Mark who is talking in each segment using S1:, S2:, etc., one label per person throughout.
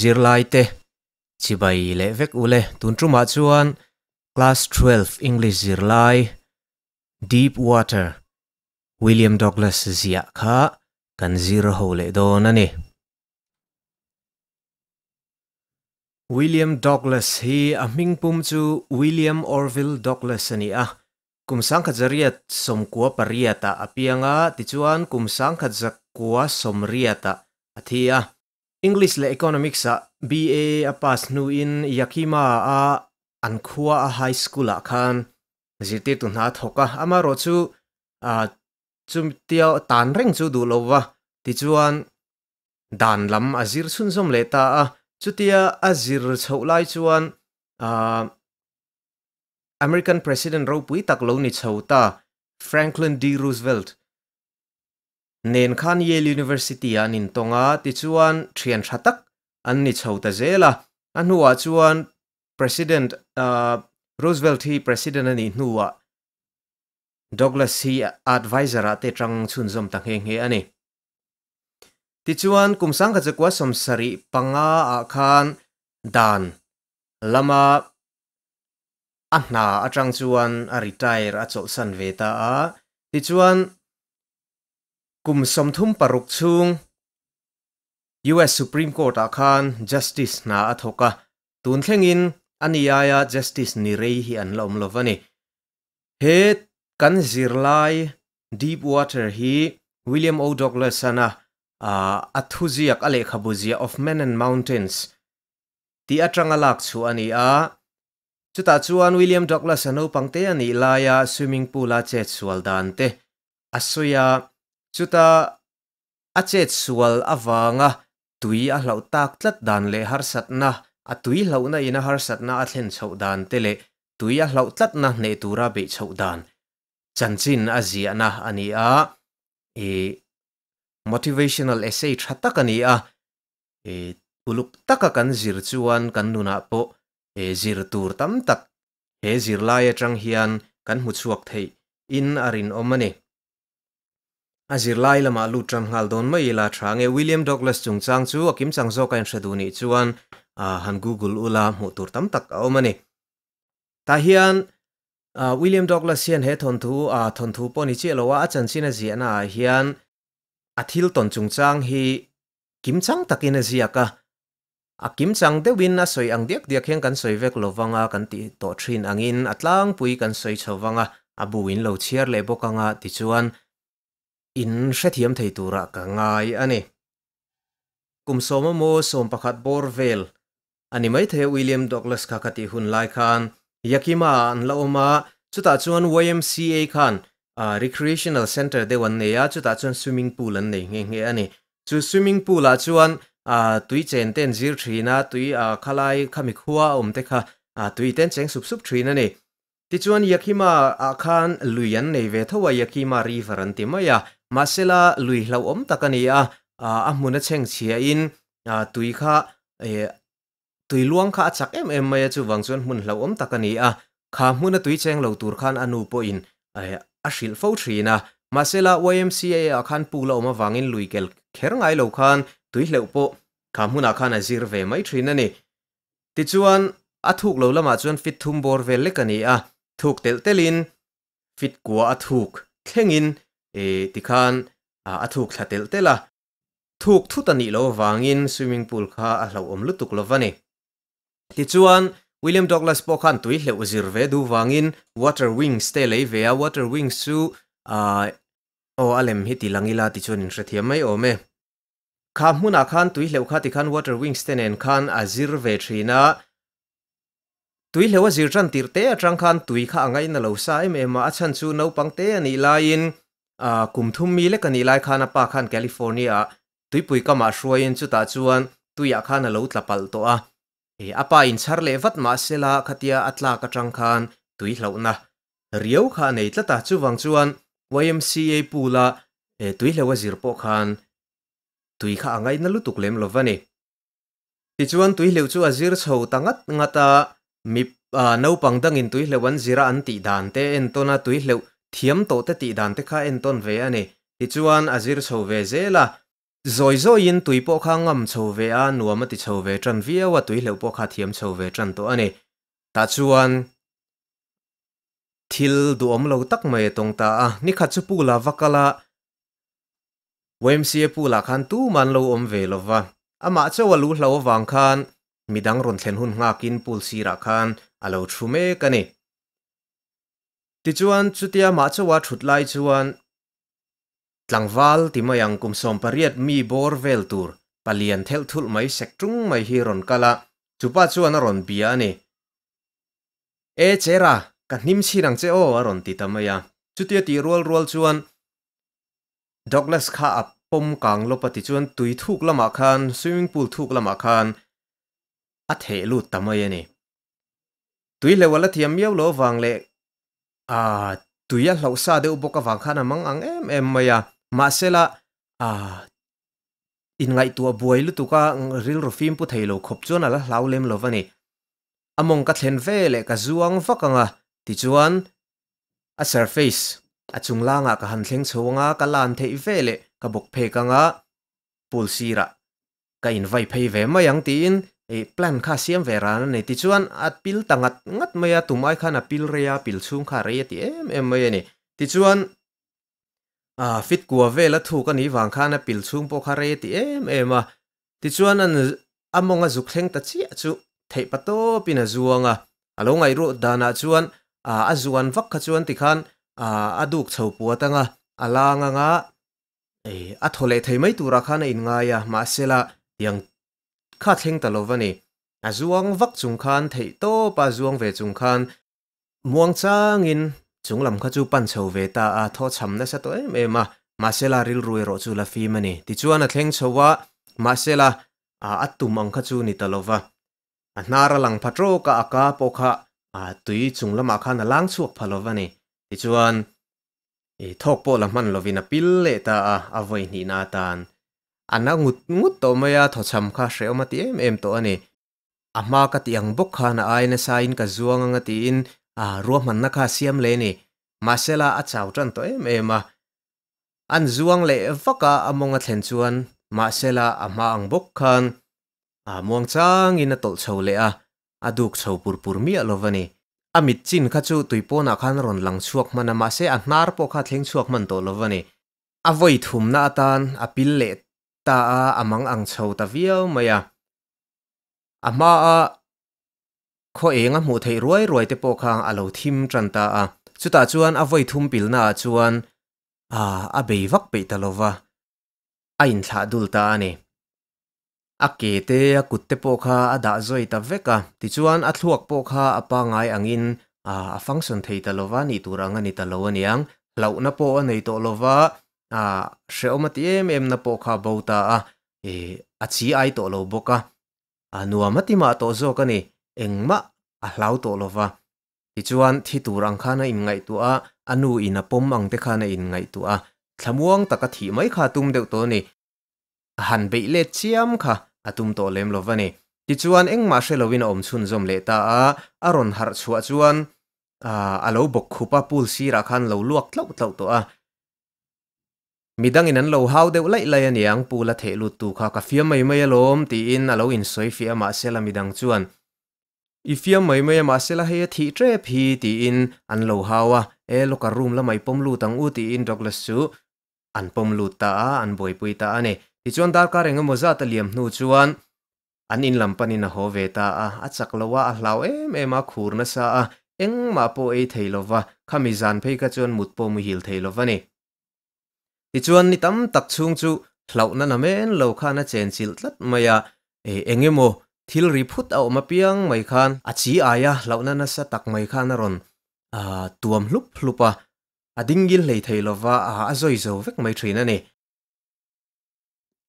S1: zirlaite chibai leh vek ule tun tumah chuan class twelve english zirlai deep water william douglas zia kha kan zir ho leh dawn a ni william douglas hi a hming pum chu william orville douglas a ni a. Kum sangkhat zariat sawmkua pariatah a piang a, tichuan kum sangkhat zakua sawmriatah a thi a. English leh Economics ah BA a pass hnuin Yakima a an khua a high school ah khan zirtirtu hna thawk a, ama erawh chu chutia tan reng chu duh lo va, tichuan dan lam a zir chhunzawm leh ta a, chutia a zir chhoh lai chuan American President ropui tak lo ni chho ta Franklin D. Roosevelt nen khan Yale University ah an intawng a, tichuan thian tha tak an ni chho ta zel a. A hnuah chuan President Roosevelt hi President a nih hnuah Douglas hi Advisor ah te atang chhunzawm ta nghe nghe a ni. Tichuan kum sangkhat zakua sawm sarih panga ah khan dan Lama a hna atang chuan a retire a chawlhsan ve ta a, tichuan kum sawmthum paruk chhung US Supreme Court-ah khan Justice hna a thawk a, tun thlengin ani aia Justice ni rei hi an la awm lo va ni. He kan zir lai Deepwater hi William O. Douglas-ana a thuziak a lehkhabu ziah Of Men and Mountains tih atanga lak chhuah a ni a. Chutah chuan William Douglas-a naupangte a nih laia swimming pool-a chet sual dan te a sawi a, chuta a chet sual avanga tui a hlauh tak tlat dan leh harsatna, a tui hlauhna ina harsatna a thlen chhoh dan te leh tui a hlauh tlatna hneh tura beih chhoh dan chanchin a ziahna a ni a. I Motivational essay tha tak a ni a, uluk taka kan zir chuan kan nunah pawh zir tur tam tak he zirlai atang hian kan hmu chhuak theih in a rinawm a ni. A zirlai lamah lut tan nghal dawn mai ila tha nge William Douglas chungchang chu a kim chang zawka inhre duh nih chuan han google ula hmuh tur tam tak a awm a ni. Tah hian William Douglas hian he thawnthu thawnthu pawh ni chiah lo a a chanchin a ziahnaah hian a thil tawn chungchang hi kim chang takin a ziak a, a kim chang deuhin a sawi ang diak diak hian kan sawi vek lo vang a kan tih tawh thin angin a tlangpui kan sawi chho vang a, a bu in lo chhiar leh bawk anga tichuan in hrethiam thei turah ka ngai a ni. Kum sawma maw sawm pakhat bawr vel A ni maithei a William Douglas kha ka tih hun lai khan Yakima ah an la awm a, chutah chuan YMCA khan ah Recreational Centre deuh an nei a, chutah chuan Swimming Pool an nei nghe nghe a ni. Chu Swimming Pool ah chuan ah tui chen ten zir thin a, tui ah khalai khami khua a awm te kha ah tui ten cheng sup sup thin a ni. Tichuan Yakima ah khan lui an nei ve tho a, Yakima River an ti mai a, mahse la lui hlauhawm tak a ni a, a hmun a chheng chhia in tui kha tui luang kha a chak em em mai a, chuvang chuan hmun hlauhawm tak a ni a, kha hmun a tui cheng lo tur khan a nu pawhin a hrilh fo thin a, mahse la YMCA ah khan puk la awm avangin lui kel kher ngai lo khan tui hleuh pawh kha hmunah khan a zir ve mai thin a ni. Tichuan, a thuk lo lamah chuan fit thum bawr vel lek a ni a, thuk telh telhin fit kua a thuk thlengin ih tikhan a thuk thla telh telh a, thuk thut a nih loh avangin swimming pool kha a hlauhawm lutuk lo a ni. Tichuan, William Douglas pawh khan tui hleuh zir ve duh vangin water wings te a lei ve a, water wings chu ih aw a lem hi ti lang ila tichuan inhrethiam mai awm e. Kha hmunah khan tui hleuh kha tikhan Water Wings te nen khan a zir ve thin a, tui hleuh a zir tan tirh te atang khan tui kha a ngaih na lo sa em em a, a chhan chu naupang te a nih laiin kum thum mi lek a nih lai khan a pa khan California-ah tuipui kamah hruaiin chutah chuan tuiah khan a lo tla palh tawh a. He a pa inchhar leh vat mah se la khatia a tlak atang khan tui hlauhna riau kha a nei tlat a, chuvang chuan YMCA pu la tui hleu a zir pawh khan tui kha a ngaihna lutuk lem lo va ni. Tichuan tui hleuh chu a zir chho ta ngat ngat a, mi naupang dangin tui hleuh an zir a an tih dan te en tawn a, tui hleuh thiam tawh te tih dan te kha en tawn ve a ni. Tichuan a zir chho ve zel a, Zawi zawiin tui pawh kha ngam chho ve a, nuam a ti chho ve ṭan viau a, tui hleuh pawh kha thiam chho ve ṭan tawh a ni. Tah chuan thil duhawm lo tak mai a tawng ta a. Ni khat chu Pu Lava kala YMCA Pu lah khan tuma an lo awm ve lo va. Amah chauh a lu hlau avang khan midang rawn thlen hun nghakin Pul sirah khan a lo ṭhu mek a ni. Tichuan chutia mah chauha ṭhut lai chuan Tlangval ti mai ang kum sawm pariat mi bawr vel tur palian thelh thulh mai sek ṭung mai hi rawn kal a, chupa chuan a rawn bia a ni. E Chera, ka hnim chhin ang che aw a rawn ti ta mai a. Chutia tih rual rual chuan Douglas kha a pawm kang lawp a tichuan tui thuk lamah khan swimming pool thuk lamah khan a theh lut ta mai a ni. tui hleuh a la thiam miau lo avang leh ah tui a hlauh sa deuh bawk avang khan a mang ang em em mai a, mahsela ah inngaihtuah buai lutuk a rilru fim pu thei lo khawp chuan a la hlau lem lo va ni. A mawng ka thlen ve leh ka zuang vak ang a, tichuan a surface a chung langa ka han thleng chho ang a, ka lan theih ve leh ka bawk phek ang a pool sirah ka in vai phei ve mai ang tiin ih plan kha siam ve ran a ni tichuan a pil ta ngat ngat mai a tum ai khan a pil rei a pil chhung kha a rei a ti em em mai a ni tichuan ah fit kua vel a thuk a nih vang khan a pil chhung pawh kha rei a ti em em a tichuan an a mawng a zuk thleng ta chiah chu theih pa tawp in a zuang a a lo ngaih ruah dan ah chuan ah a zuan vak kha chuan tikhan ah a duk chho puat ang a a lang ang a. Ei, a thaw leh thei mai turah khan a inngai a, mahsela tiang kha thleng ta lo va ni. A zuang vak chung khan theih tawp a, zuang ve chung khan muang changin chung lam kha chu pan chho ve ta a, thaw chham nasa tawh em em a, mahsela rilru erawh chu la fim a ni. Tichuan a thleng chho a, mahsela ah a tum ang kha chu ni ta lo va. A hnar a lang pha trawk a, a ka pawh kha ah tui chung lamah khan a lang chhuak pha lo va ni. Tichuan I thawk pawh la hman lovin a pil leh ta a, a vawihnihna atan a na ngut ngut tawh mai a, thawchham kha hrehawm a ti em em tawh a ni. A hma ka tih ang bawk khan a ai nasaiin ka zuang anga tiin a ruahmanna kha a siam hle ni. Mahsela a chau tan tawh em em a. An zuang leh vaka a mawng a thlen chuan Mahsela a hma ang bawk khan a muang changin a tawlh chho leh a, a duk chho pur pur miah lo va ni. A mit chin kha chu tui pawnah khan rawn lang chhuak hman a, mahse a hnar pawh kha a thleng chhuak hman tawh lo va ni. A vawi thumna atan a pil leh ta a, a mang ang chho ta viau mai a. A hmaa khaw enga hmuh theih ruai ruai te pawh kha a lo thim tan ta a. Chutah chuan a vawi thumpilnaah chuan a bei vak peih ta lo va. a inthlah dul ta a ni. A ke te, a kut te pawh kha a dah zawih ta vek a, tichuan a thluak pawh kha a pangai angin aah a function thei ta lova nih tur ang a ni ta lo a niang. Hlauhna pawh a nei tawh lova aah hrehawm a ti em em na pawh kha a bo ta a, eeh a chhi ai tawh lo bawk a, a nuam a ti mah tawh zawk a ni, engmah a hlau tawh lova. Tichuan, thi tur ang khan a inngaihtuah a, a nu in a pawm ang te khan a inngaihtuah a. Thlamuang taka thih mai kha a tum deuh tawh a ni. A han beih let chiam kha a tum tawh lem lo va ni. Tichuan, engmah hre loin a awm chhunzawm leh ta a, a rawn harh chhuah chuan a lo bawk khup a, pool sirah khan lo luak tlauh tlauh tawh a. Midangin an lo hau deuh laih laih a niang, pool a theh lut tu kha ka fiam mai mai alawm tiin a lo insawi fiah a, mahsela midang chuan I fiam mai mai a mahsela hei a thih tep hi tiin an lo hau a, he locker room lama i pawm lut ang u tiin Douglas chu an pawm lut ta a, an buaipui ta a ni. Tichuan darkar engemaw zat a liam hnu chuan an in lam panin a haw ve ta a, a chak lo a, a hlau em em a, khur nasa a, engmah pawh ei thei lova, khami zan phei kha chuan mut pawh muhil thei lova ni. Tichuan ni tam tak chhung chu hlauh nana men lo khan a chen chilh tlat mai a, eh eng emaw thilri phut a awm apiang mai khan. A chi aia hlauh na nasa tak mai khan a rawn tuam hlup hlup a, a dingil hlei thei lova a zawi zo vek mai thin a ni.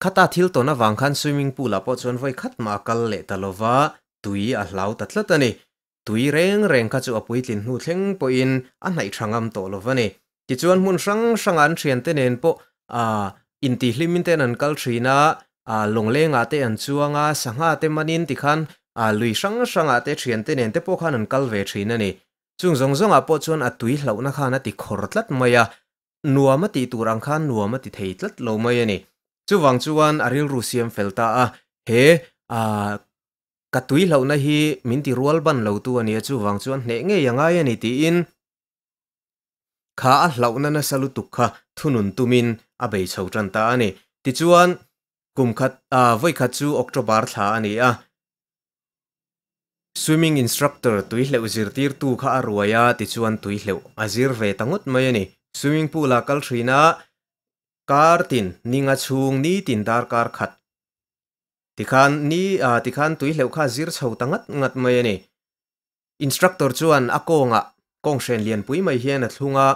S1: Khata thil tawn avang khan swimming pool ah pawh chuan vawi khat mah a kal leh ta lova tui a hlau ta tlat a ni. tui reng reng kha chu a puitlin hnu thleng pawhin a hnaih tha ngam tawh lo va ni. Tichuan hmun hrang hrang ah an thiante nen pawh aah intihhlimin te an han kal thin a, aah lawnglengah te an chuang a, sangha te manin tikhan aah lui hrang hrang ah te thiante nen te pawh khan an kal ve thin a ni. Chung zawng zawng ah pawh chuan a tui hlauhna khan a ti khawr tlat mai a, nuam a tih tur ang khan nuam a ti thei tlat lo mai a ni. Chuvang chuan a rilru siam fel ta a, he aah Ka tui hlauhna hi min ti rual ban lo tu a nia, chuvang chuan hneh ngei a ngai a ni, tiin kha a hlauhna nasa lutuk kha thunun tumin a bei chho tan ta a ni. Tichuan, kum khat, ah, vawi khat chu October thla a ni a, swimming instructor tui hleuh zirtirtu kha a ruai a, tichuan tui hleuh a zir ve ta ngawt mai a ni. Swimming pool-ah kal thin a, kartin ninga chhung nitin darkar khat Tikhan ni ah tikhan tui hleuh kha zir chho ta ngat ngat mai a ni. Instructor chuan a kawng ah kawng hrian lian pui mai hian a thlung a,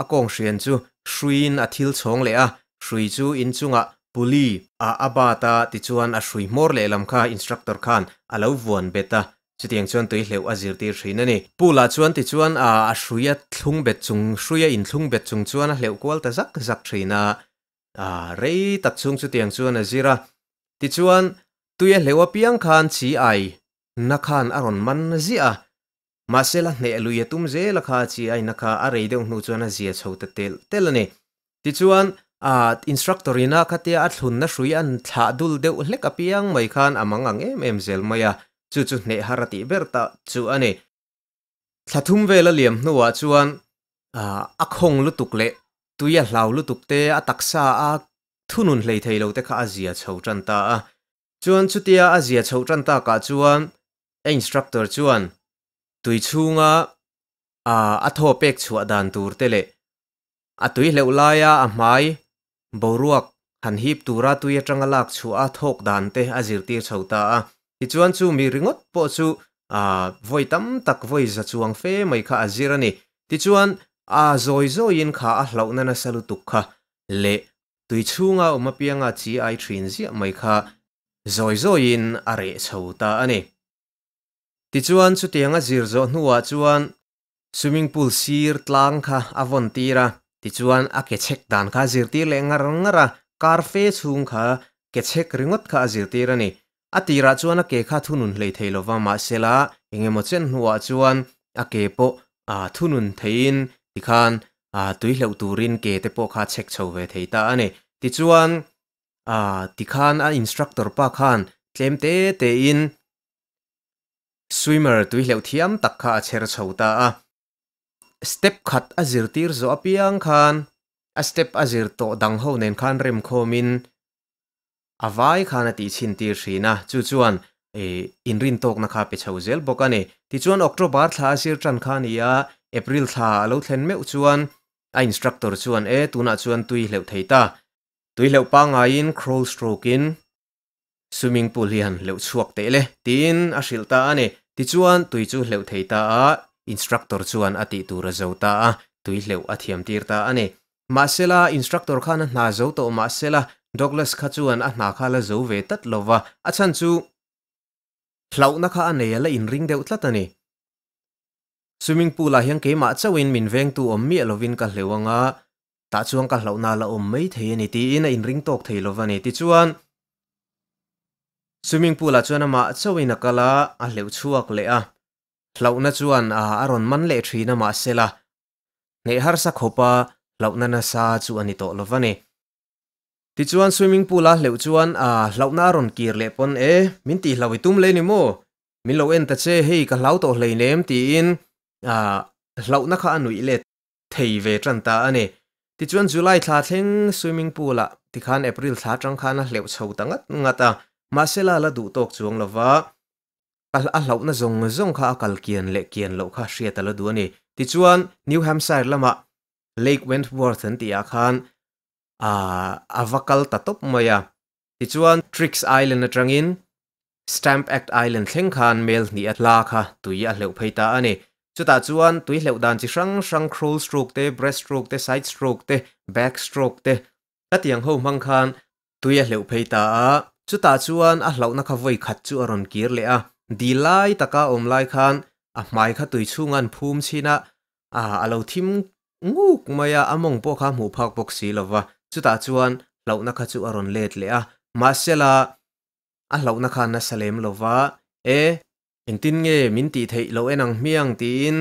S1: a kawng hrian chu hruiin a thil chhawng leh a, hrui chu in chung ah puli ah a bat a ti chuan a hrui hmawr leh lam kha instructor khan a lo vuan bet a, chutiang chuan tui hleuh a zir tir thin a ni. Pool ah chuan ti chuan ah a hrui a thlung bet chung, hrui a in thlung bet chung chuan a hleuh kual ta zak zak thin a, Aa, rei tak chhung chutiang chuan a zir a. Tichuan, tui a hleuh apiang khan chi ai na khan a rawn man ziah a. Mahse, la hneh lui a tum zel a kha chi ai na kha a rei deuh hnu chuan a zia chho ta telh telh a ni. Tichuan, aa, instructor in a khatia a thlun na hrui a thlah dul deuh hlek apiang mai khan a mang ang em em zel mai a. Chu chu hneh har a tih ber ta chu a ni. Thla thum vela liam hnuah chuan a khawng lutuk leh tui a hlau lutuk te, a taksa a thunun hlei thei lo te kha a zia chho tan ta a. Chuan chutia a zia chho tan takah chuan a instructor chuan tui chhunga a thaw pek chhuah dan tur te leh A tui hleuh laia a hmai boruak han hip tura tui atanga lak chhuah a thawk dan te a zirtir chho ta a. Tichuan chu mi ringawt pawh chu a vawi tam tak vawi za chuang fe mai kha a zir a ni. Tichuan a zawi zawiin kha a hlauhna nasa lutuk kha leh tui chhunga awm apianga chi ai thin ziah mai kha zawi zawiin a reh chho ta a ni. Tichuan chutianga zir zawh hnuah chuan Swimming pool sir tlang kha a vawn tir a, tichuan a ke chhek dan kha a zir tir leh ngar ngar a, kar fe chhung kha ke chhek ringawt kha a zir tir a ni. A tirah chuan a ke kha thunun hlei thei lo va, mahsela engemaw chen hnuah chuan a ke pawh thunun theiin tikhan tui hleuh turin ke te pawh kha chhek chho ve thei ta a ni. Tichuan tikhan a instructor pa khan tlem te tein Swimmer tui hleuh thiam tak kha a chher chho ta a. Step khat a zirtir zawh apiang khan a step a zir tawh dang ho nen khan rem khawmin a vai khan a tihchhintir thin a. Chu chuan inrin tawkna kha pe chho zel bawk a ni. Tichuan October thla a zir tan kha a ni a, April thla a lo thlen meuh chuan a instructor chuan e tunah chuan tui hleuh thei ta, tui hleuh pangaiin crawl stroke-in Swimming pool hi han hleuh chhuak teh le tiin a hrilh ta a ni. Tichuan tui chu hleuh thei ta a, instructor chuan a tih tur a zo ta a, tui hleuh a thiam tir ta a ni. Mahsela, instructor khan a hna zo tawh mahsela, Douglas kha chuan a hna kha la zo ve tlat lo va, a chhan chu hlauhna kha a nei a la inring deuh tlat a ni. Swimming pool-ah hian keimah chauhin min vengtu awm miah lovin ka hleuh ang a, tah chuan ka hlauh na la awm mai thei a ni tiin a inring tawk thei lo va ni. Tichuan, swimming pool ah chuan amah chauhin a kal a, a hleuh chhuak leh a, hlauh na chuan a a rawn man leh thin a mahse la, ngheh harsa khawp a hlauh na nasa chu a ni tawh lo va ni. Tichuan, swimming pool a hleuh chuan a hlauh na a rawn kir leh pawn e, min tih hlauh i tum leh ni maw, min lo en ta che, hei ka hlau tawh hlei nem tiin a hlauh na kha a nuih let. thei ve tan ta a ni. Tichuan July thla thleng swimming pool ah ti khan April thla atang khan a hleuh chho ta ngat ngat a, mahse la la duh tawk chuang lo va, a a hlauhna zawng zawng kha a kal kian leh kian loh kha hriat a la duh a ni. Tichuan New Hampshire lamah Lake Wentworth an tih ah khan aa a va kal ta tawp mai a. Tichuan, Triggs Island atangin Stamp Act Island thleng khan mel hnih a hla kha tui a hleuh phei ta a ni. Chutah chuan, tui hleuh dan chi hrang hrang, Crawl Stroke te, Breast Stroke te, Side Stroke te, Back Stroke te, ka tiang ho hmang khan tui a hleuh phei ta a. Chutah chuan, a hlauhna kha vawi khat chu a rawn kir leh a. Dil lai taka awm lai khan, a hmai kha tui chhunga an phum chhin a, Ah, a lo thim nguk mai a, a mawng pawh kha hmuh phak bawk si lo va, chutah chuan hlauhna kha chu a rawn let leh a. Mahsela, a hlauhna kha a nasa lem lo va, E. Engtin nge min tih theih loh en ang hmiang? tiin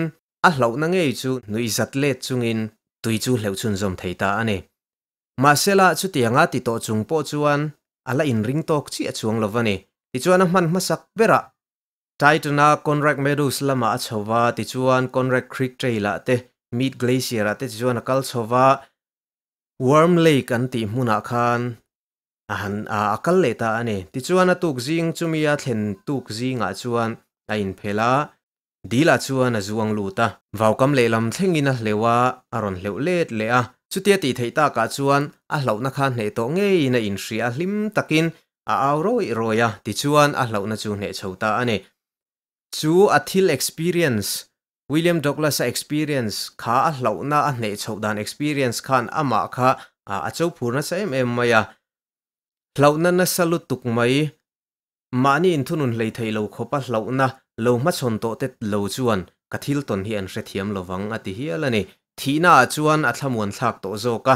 S1: a hlauhna ngei chu nuih zat let chungin tui chu hleuh chhunzawm thei ta a ni. Mahsela, chutiang a ti tawh chung pawh chuan a la inring tawk chiah chuang lo va ni. Tichuan a hman hmasak berah Titan-a Conrec Meadows lamah a chho va, tichuan Conrec Creek Trail-ah te, Mead Glacier-ah te tichuan a kal chho va, Worm Lake an tih hmunah khan a han a a kal leh ta a ni. Tichuan a tuk zing chumi a thlen tuk zingah chuan a inphelh a, dilah chuan a zuang lut a. Vau kam lehlam thlengin a hleuh a, a rawn hleuh let leh a. Chutia tih theih takah chuan a hlauhna khan hnehtawh ngeiin a inhria hlim takin a au rawih rawih a, tichuan a hlauhna chu hneh chho ta a ni. Chu a thil experience, William Douglas-a experience kha a hlauhna a hneh chho dan experience khan amah kha a cho phur nasa em em mai a. Hlauhna nasa lutuk mai, mahni in thunun hlei theih lo khawpa hlauhna lo hmachhawn tawh te lo chuan ka thil tawn hi an hrethiam lovang a ti hial a ni. Thihnaah chuan a thlamuan thlak tawh zawk a,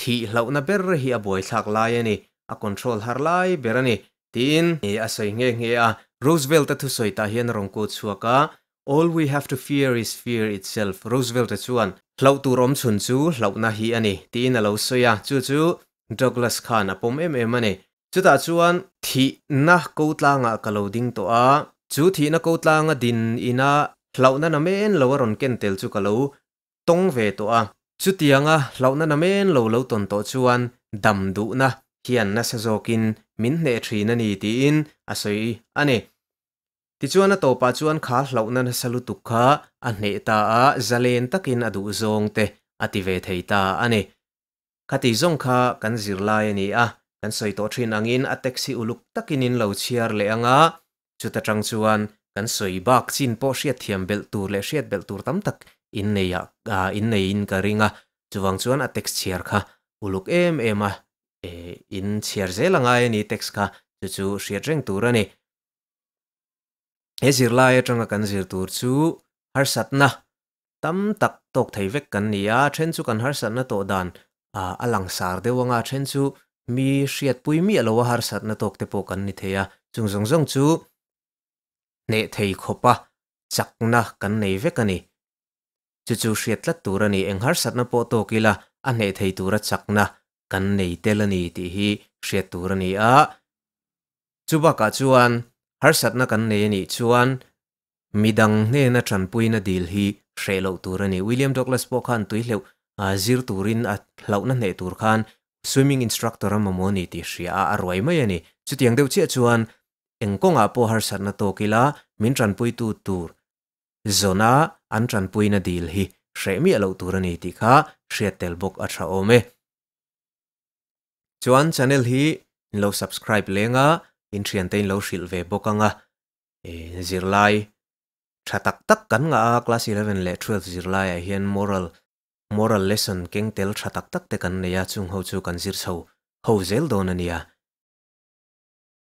S1: thih hlauhna ber hi a buaithlak lai a ni, a control har lai ber a ni, tiin a sawi nghe nghe a. Roosevelt-a thusawi tah hian a rawn quote chhuak a, All we have to fear is fear itself. Roosevelt-a chuan, Hlauh tur awm chhun chu hlauhna hi a ni, tiin a lo sawi a, chu chu Douglas khan a pawm em em a ni. Chutah chuan thihna ko tlangah ka lo ding tawh a, chu thihna ko tlanga din ina hlauhnana men lo a rawn ken tel chu ka lo tawng ve tawh a. Chutianga hlauhna na men lo lo tawn tawh chuan dam duhna hian nasa zawkin min hneh thin a ni tiin a sawi a ni. Tichuan a tawpah chuan khal hlauhna nasa lutuk kha a hneh ta a, zalen takin a duh zawng te a ti ve thei ta a ni. Khati zawng kha kan zir lai a ni a, kan sawi tawh thin angin a taxi uluk takin in lo chhiar leh anga chuta tang chuan kan sawi bak chin pawh hriat thiam belh tur leh hriat belh tur tam tak in neia in neiin ka ring a, chuvang chuan a text chhiar kha uluk em em a in chhiar zel a ngai a ni text kha chu chu hriat reng tur a ni. He zir lai atanga kan zir tur chu harsatna tam tak tawk thei vek kan ni a, then chu kan harsatna tawh dan ah a langsar deuh anga a then chu mi hriatpui miah loa harsatna tawk te pawh kan ni thei a, chung zawng zawng chu hneh thei khawpa chakna kan nei vek a ni. Chu chu hriat tlat tur a ni, eng harsatna pawh tawk ila a hneh thei tura chakna kan nei tel a ni tih hi hriat tur a ni a, chu bakah chuan harsatna kan nei a nih chuan Midang hnena tanpuina dil hi hreh loh tur a ni. William Douglas pawh khan tui hleuh zir turin a hlauhna hneh tur khan Swimming Instructor-a mamawh a ni tih hria a a ruai mai a ni. Chutiang deuh chiah chuan eng kawngah pawh harsatna tawk ila min tanpuitu tur zawna an tanpuina dil hi hreh miah loh tur a ni tih kha hriat tel bawk a tha awm e. Chuan channel hi in lo subscribe leng a, inthianteiin lo hrilh ve bawk ang a. eh zirlai tha tak tak kan ngah a, class eleven leh twelve zirlai ah hian moral moral lesson keng tel tha tak tak te kan nei a, chung ho chu kan zir chho ho zel dawn a nia.